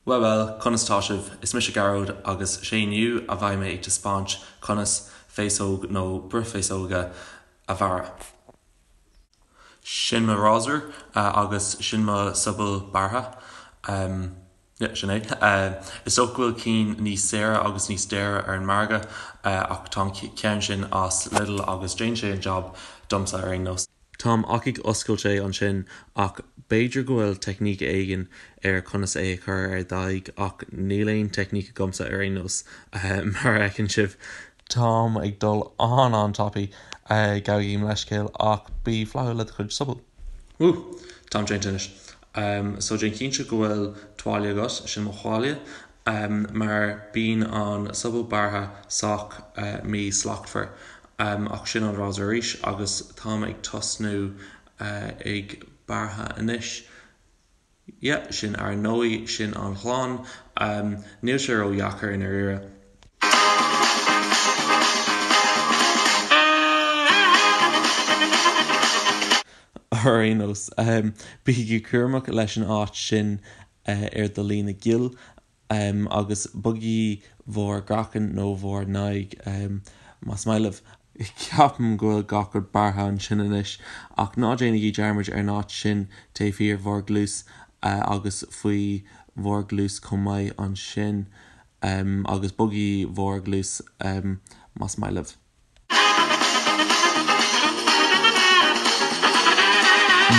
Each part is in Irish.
Bhuel bhuel, conas tá sibh? Is mise Gearóid agus sé inniu a bheidh mé ag taispeáint conas féasóg nó bruith féasóige a bhearradh. Sin mo rásúr agus sin mo sobal bearrtha. Yeah, sin é. Is dócha go bhfuil cinn níos saoire agus níos daoire ar an margadh ach tá an ceann sin as Lidl agus déanann sé an jab domsa ar aon nós. Táim ach ag oscailt é ansin. Ach b'fhéidir go bhfuil teicníc éigin ar conas é a chur ar d'aghaidh ach níl aon teicníc agamsa ar aon nós, mar a fheiceann sibh. Táim ag dul an-, an-tapaidh. Gabhaigí mo leithscéal ach bí flaithiúil le do chuid sobal. Woo! Táim déanta anois. So déan cinnte go bhfuil tuáille agat, sin mo thuáille. mar bíonn an sobal bearrtha sách mí-shlachtmhar, ach sin an rásúr arís agus táim ag tosnú ag bearrtha anois. Yeah, sin ar ndóigh, sin an ghlan, níl sé ródheacair i ndairíre. Ar aon nós, bígí cúramach leis an áit sin ar do líne géill agus bogaigí bhur gcraiceann nó bhur n-aghaidh, más maith libh. Ceapaim go bhfuil gach rud bearrtha ansin anois, ach ná déanaigí dearmad ar an áit sin taobh thiar bhur gcluas agus faoi bhur gcluas chomh maith ansin, agus bogaigí bhur gcluas, más maith libh.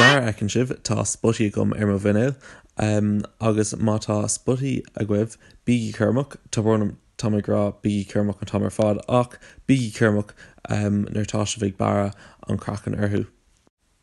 Mar a fheiceann sibh, tá spotaí agam ar mo mhuinéal. Agus má tá spotaí agaibh, bígí cúramach. Tá brón orm, tá mé ag rá bígí cúramach an t-am ar fad, ach bígí cúramach nuair atá sibh ag bearradh an craiceann orthu.